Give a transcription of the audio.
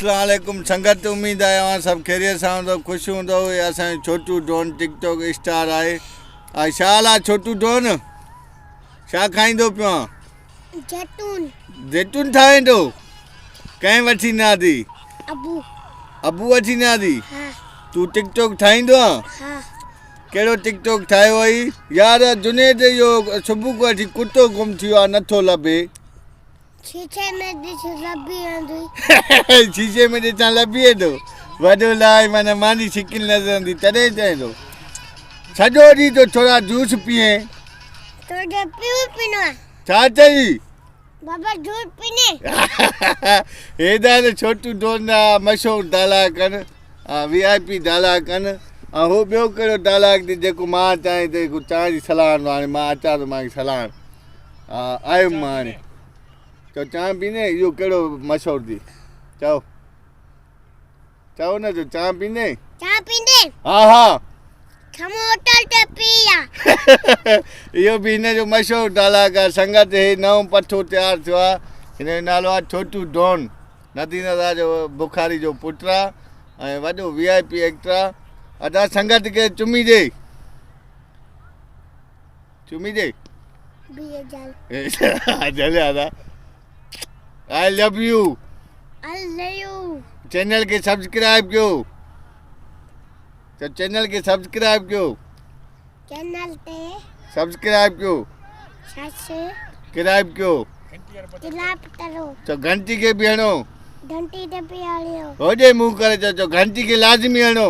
اسلام عليڪم سنگت اميد آهي اوهان سڀ خيريت سان هوندؤ خوش هوندؤ هي اسان جو Chhotu don TikTok star آهي آء شا حال آ ڇوٽو ڊون شا کائيندو پيو آ جيتون جيتون ٺاهيندو ڪنهن وٺي نه آدي ابو ابو وٺي نه آدي ها تو ٽڪ ٽوڪ ٺاهيندو آ ها ڪهڙو ٽڪ ٽوڪ ٺاهيو اهي يار جنيد يو صبح کو اٺي ڪتو گم ٿيو آ نٿو لڀي شيشي ۾ ڏس لبي ايندي. شيشي ۾ ڏسان لبي ايندو. وڏو لائي معنيٰ ماني شڪل نظر ايندي تڏهن چئين ٿو سڄو ڏينهن جو ڇورا جوس پيئين. تو جو پيئون پينو آ. ڇا چئي؟ بابا جوس پيني. هيڏانهن ته ڇوٽو ڊوندا مشهور دالاڪن وي آء پي دالاڪن ۽ هو ٻيو ڪهڙو دالاڪ ڏي جيڪو مان چاهين ته جيڪو چانهه جي سلان آڻي مان اچان ٿو مانکي سلان. آيم مان هاڻي چؤ چانهه پيندين اهو ڪهڙو مشهور ٿي چؤ چؤ نه جو چانهه پيندين چانهه پيندين ها ها کم هوٽل تي پي آ اهو به هن جو مشهور ڊالاگ آ سنگت هي نئون پٺو تيار ٿيو آ هن جو نالو آ ڇوٽو ڊون ندي نظار جو بخاري جو پٽ آ ۽ وڏو وي آء پي ايڪٽر آ ادا سنگت کي چمي ڏي چمي ڏي بيهي جل اي جل آدا I love you I love you channel کي سبسڪرائب ڪيو ته چينل کي سبسڪرائب ڪيو چينل تي سبسڪرائب ڪيو سبسڪرائب ڪيو تلاپ ڪرو ته گھنٽي کي به هڻو گھنٽي ته به هڻيو هوڏي مون ڪري چو گھنٽي کي لازمي هڻو